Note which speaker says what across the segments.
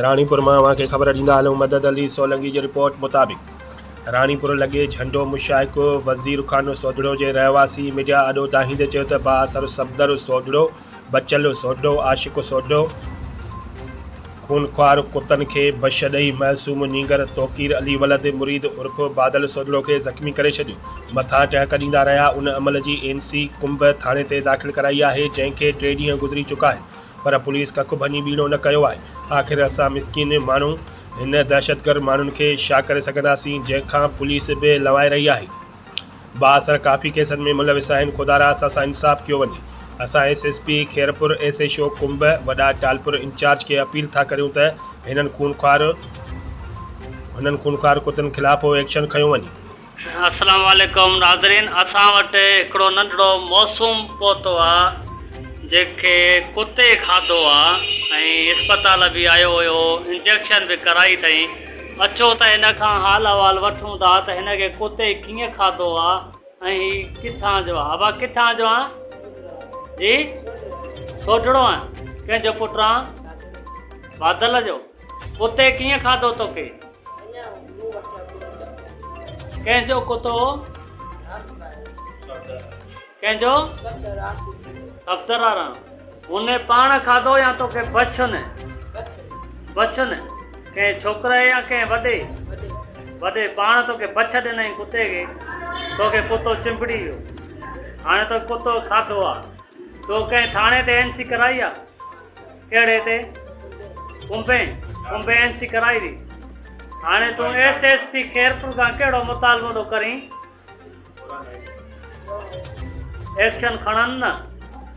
Speaker 1: راڻيپور مان اوهان کي خبر ڏيندا هلون مدد علي سولنگي جي رپورٽ مطابق راڻيپور لڳي جهنڊو مشائق وزيرخانو سوڍڙو جي رهواسي ميڊيا آڏو دانهيندي چيو ته بااثر صفدر سوڍڙو بچل سوڍڙو عاشق سوڍڙو خونخوار ڪتن کي بش ڏئي معصوم نينگر توقير علي ولد مريد عرف بادل سوڍڙو کي زخمي ڪري ڇڏيو مٿان ٽهڪ ڏيندا رهيا ان عمل جي اين سي ڪنب ٿاڻي تي داخل ڪرائي آهي جنهن کي ٽي ڏينهن گذري چڪا آهن پر پوليس ڪک ڀڃي ٻيڻو نه ڪيو آهي، آخر اسان مسڪين ماڻهو هن دهشتگرد ماڻهن کي ڇا ڪري سگهنداسين جنهن کان پوليس به لوائي رهي آهي، بااثر ڪافي ڪيسن ۾ ملوث آهن، خدارا اسان سان انصاف ڪيو وڃي، اسان S S P Khairpur, S H O Kumb, وڏا ٽالپر انچارج کي اپيل ٿا ڪريون ته هنن خونخوار هنن خونخوار ڪتن خلاف ايڪشن کنيو وڃي. السلام
Speaker 2: عليڪم ناظرين اسان وٽ هڪڙو ننڍڙو موسوم پهتو آ جنهن کي ڪتي کاڌو آ ۽ اسپتال به آيو هيو انجيڪشن به ڪرائي اٿئين اچو ته هن کان حال احوال وٺون ٿا ته هن کي ڪتي ڪيئن کاڌو آ ۽ هي ڪٿان جو آ ابا ڪٿان جو آ جي سوڍڙو آ ڪنهن جو پٽ آ بادل جو ڪتي ڪيئن کاڌو توکي. ڪنهن جو ڪتو هو. ڪنهن جو. صفدر آ رام. هن پاڻ کاڌو يا توکي بڇن. بڇن. ڪنهن ڇوڪري يا ڪنهن وڏي. وڏي پاڻ توکي بڇ ڏنائين ڪتي کي. توکي ڪتو چنبڙي ويو. هاڻي توکي ڪتو کاڌو آ. تو ڪنهن ٿاڻي تي اين سي ڪرائي آ. ڪهڙي تي ڪمبين ڪمبينسي ڪرائي هئي هاڻي تون ايس ايس پي خيرپور کان ڪهڙو مطالبو ٿو ڪرين ايڪشن کڻن نه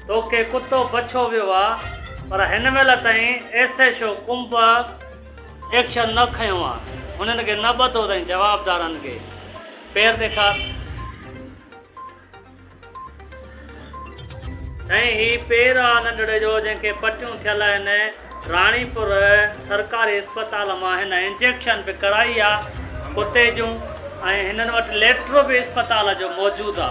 Speaker 2: توکي ڪتو بڇو ويو آ پر هن مهل تائين S S O Kumb action نه کنيو آ هنن کي نه ٻڌو اٿئين جوابدارن کي پير ڏيکار ۽ هي پير آ ننڍڙي جو جنهن کي پٽيون ٿيل آهن راڻيپور سرڪاري اسپتال مان هن انجيڪشن به ڪرائي آ ڪتي جون ۽ هنن وٽ ليٽر به اسپتال جو موجود آ.